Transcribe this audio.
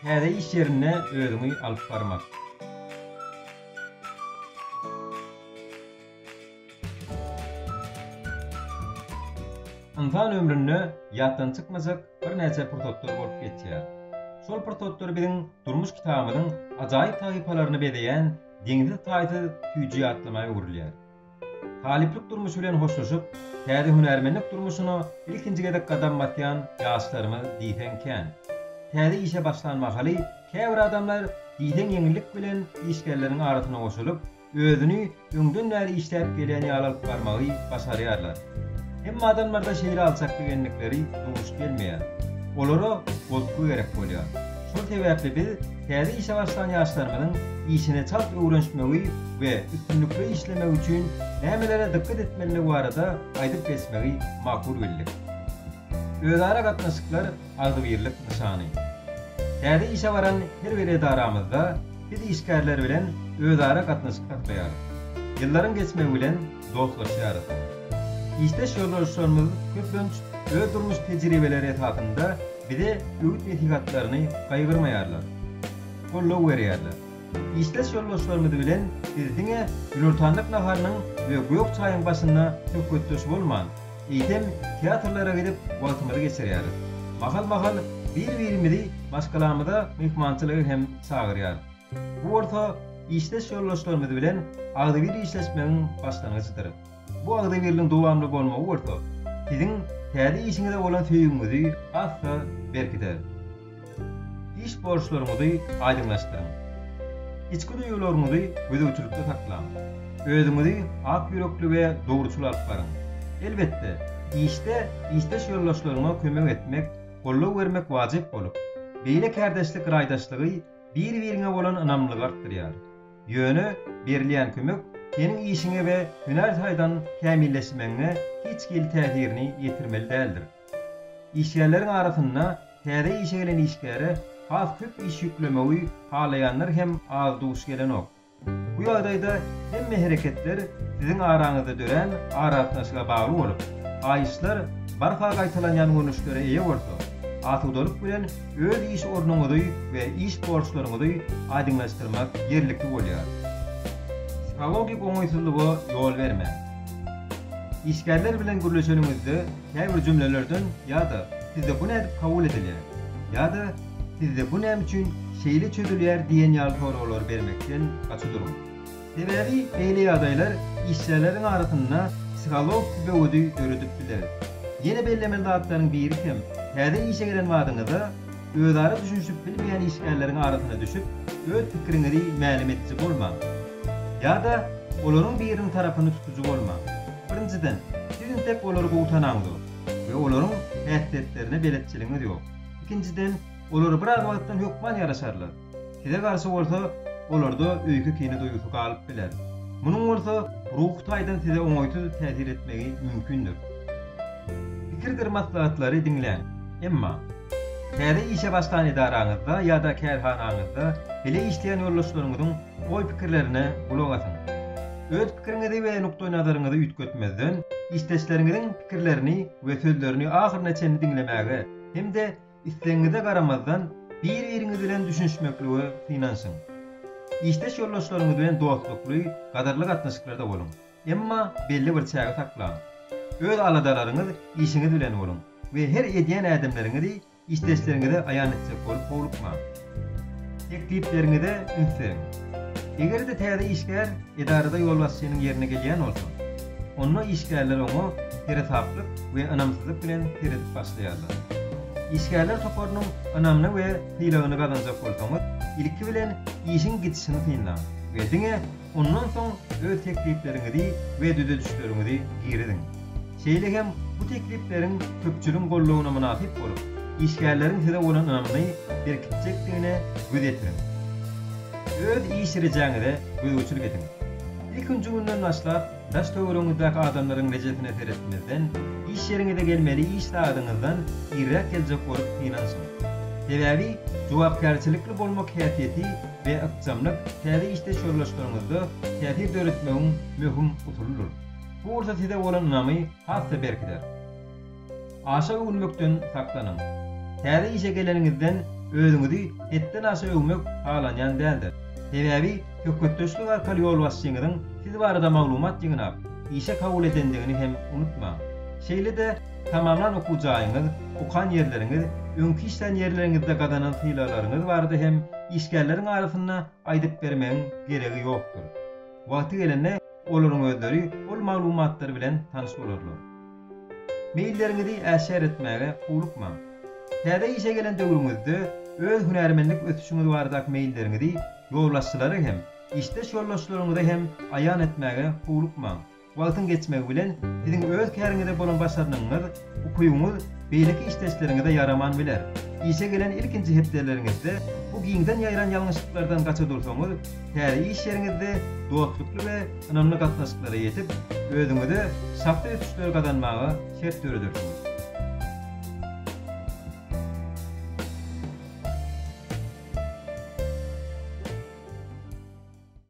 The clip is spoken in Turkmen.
Täze iş ýerinde özüňi alyp barmak. Ynsan ömründe ýatdan çykmajak birnäçe pursatlar bolup geçýär. Şol pursatlar biziň durmuş kitabymyzyň ajaýyp sahypalaryny bezeýän deňsiz-taýsyz süýji ýatlama öwrülýär. Talyplyk durmuşy bilen hoşlaşyp, täze hünärmenlik durmuşyna ilkinji gezek gadam basýan ýaşlarymyz diýseň kän. Täze işe başlan mahaly käbir adamlar diýseň ýeňillik bilen işgärleriň arasyna goşulyp, özüni öňden bäri işläp gelýän ýaly alyp barmagy başarýarlar. Emma adamlarda şeýle alçaklyk endikleri duş gelmeýär. Olara goltgy gerek bolýar. Şol sebäpli biz täze işe başlan ýaşlarymyzyň işine çalt öwrenşmegi we üstünlikli işlemegi üçin nämelere dykgat etmelidigi barada aýdyp geçmegi makul bildik. Özara gatnaşyklar agzybirlik nyşany. Täze işe baran her bir edaramyzda biz işgärler bilen özara gatnaşyk saklaýarys. Ýyllaryň geçmegi bilen, dostlaşýarys. Işdeş ýoldaşlarymyz köplenç öz durmuş tejribeleri esasynda bize öwüt-nesihatlaryny gaýgyrmaýarlar, goldaw berýärler. Işdeş ýoldaşlarymyz bilen biz diňe günortanlyk naharynyň we gök çaýyň başynda söhbetdeş bolman, eýsem, teatrlara gidip wagtymyzy geçirýäris. Mahal-mahal bir-birimizi maşgalamyza myhmançylyga hem çagyrýarys. Bu bolsa işdeş ýoldaşlarymyz bilen agzybir işleşmegiň başlangyjydyr. Bu agzybirligiň dowamly bolmagy bolsa siziň täze işiňize bolan söýgiňizi has-da berkider. Iş borçlaryňyzy aýdyňlaşdyryň. Içki duýgularyňyzy gözegçilikde saklaň. Özüňizi ak ýürekli we dogruçyl alyp baryň. Elbetde, işde işdeş ýoldaşlaryňa kömek etmek, goldaw bermek wajyp bolup, beýle kärdeşlik raýdaşlygy bir-biriňe bolan ynamlygy artdyrýar. Ýöne berilýän kömek seniň işiňe we hünär taýdan kämilleşmegiňe hiç hili täsirini ýetirmeli däldir. Işgärleriň arasynda täze işe gelen işgäre has köp iş ýüklemegi halaýanlar hem az duş gelenok. Bu ýagdaýda hemme hereketler siziň araňyzda dörän aragatnaşyga bagly bolup, haýyşlar barha gaýtalanýan görnüşlere eýe bolsa, asudalyk bilen öz iş ornuňyzy we iş borçlaryňyzy aýdyňlaşdyrmak ýerlikli bolýar. Psihologik oňaýsyzlyga ýol bermäň. Işgärler bilen gürleşeniňizde käbir jümlelerden ýa-da sizde bu nädip kabul edilýär? ýa-da Sizde bu näme üçin şeýle çözülýär diýen ýaly soraglar bermekden gaça duruň. Sebäbi beýle ýagdaýlar işgärleriň arasynda psihologiki böwedi döredip biler. Ýene bellemeli zatlaryň biri hem täze işe gelen badyňyzda özara düşünişip bilmeýän işgärleriň arasyna düşüp, öz pikiriňizi mälim ediji bolmaň. Ýa-da olaryň biriniň tarapyny tutujy bolmaň. Birinjiden, siz intek olary gowy tanaňzok we olaryň häsiýetlerine beletçiligiňiz ýok. Ikinjiden, olar biraz wagtdan hökman ýaraşarlar. Size garşy bolsa, olarda öýke-kine duýgusy galyp biler. Munuň bolsa ruhy taýdan size oňaýsyz täsir etmegi mümkindir. Pikirdir maslahatlary diňläň. Emma, täze işe başlan edaraňyzda ýa-da kärhanaňyzda bile işleýän ýoldaşlaryňyzyň oý-pikirlerine gulak asyň. Öz pikiriňizi we nukdaýnazaryňyzy üýtgetmezden, işdeşleriňiziň pikirlerini we sözlerini ahyryna çenli diňlemäge, hem-de islegiňize garamazdan bir-biriňiz bilen düşünişmeklige synanyşyň. Işdeş ýoldaşlaryňyz bilen dostlukly, gadyrly gatnaşyklarda boluň, emma belli bir çägi saklaň. Öz aladalaryňyz işiňiz bilen boluň we her edýän ädimleriňizi işdeşleriňize aýan etjek bolup howlukmaň. Teklipleriňize üns beriň. Eger-de täze işgär edarada ýolbaşçynyň ýerine gelýän bolsa, onda işgärler oňa seresaplyk we ynamsyzlyk bilen seredip başlaýarlar. Işgärler toparynyň ynamyny we sylagyny gazanjak bolsaňyz, ilki bilen işiň gidişini synlaň we diňe Ondan soň öz teklipleriňizi we düzedişleriňizi giriziň. Şeýle hem bu teklipleriň köpçüligiň goldawyna mynasyp bolup, işgärleriň size bolan ynamyny berkitjekdigine göz ýetiriň. Öz iş rejäňize gözegçilik ediň. Ilkinji günden başlap, Daş-töweregiňizdäki adamlaryň rejesine seretmezden, iş ýeriňize gelmeli iş sagadyňyzdan irräk geljek bolup synanyşyň. Sebäbi jogapkärçilikli bolmak häsiýeti we ykjamlyk täze işdeş ýoldaşlaryňyzda täsir döretmegiň möhüm usulydyr. Bu bolsa size bolan ynamy has-da berkider. Aşa öwünmekden saklanyň. Täze işe geleniňizden özüňizi hetden aşa öwmek halanýan däldir. Sebäbi söhbetdeşlik arkaly ýolbaşçyňyzyň siz barada maglumat ýygnap, işe kabul edendigini hem unutmaň. Şeýle-de tamamlan okuw jaýyňyz, okan ýerleriňiz, öňki işlän ýerleriňizde gazanan sylaglaryňyz barada hem işgärleriň arasynda aýdyp bermegiň geregi ýokdur. Wagty gelende olaryň özleri ol maglumatlar bilen tanyş bolarlar. Meýilleriňizi äşgär etmäge howlukmaň. Täze işe gelen döwrüňizde öz hünärmenlik ösüşiňiz baradaky meýilleriňizi ýolbaşçylara hem, işdeş ýoldaşlaryňyza hem aýan etmäge howlukmaň. Wagtyň geçmegi bilen, siziň öz käriňize bolan başarnygyňyz, ukybyňyz beýleki işdeşleriňize ýaraman biler. Işe gelen ilkinji hepdeleriňizde bu giňden ýaýran ýalňyşlyklardan gaça dursaňyz, Täze iş ýeriňizde dostlukly we ynamly gatnaşyklara ýetip, özüňize şahsy ösüşleri gazanmaga şert döredersiňiz.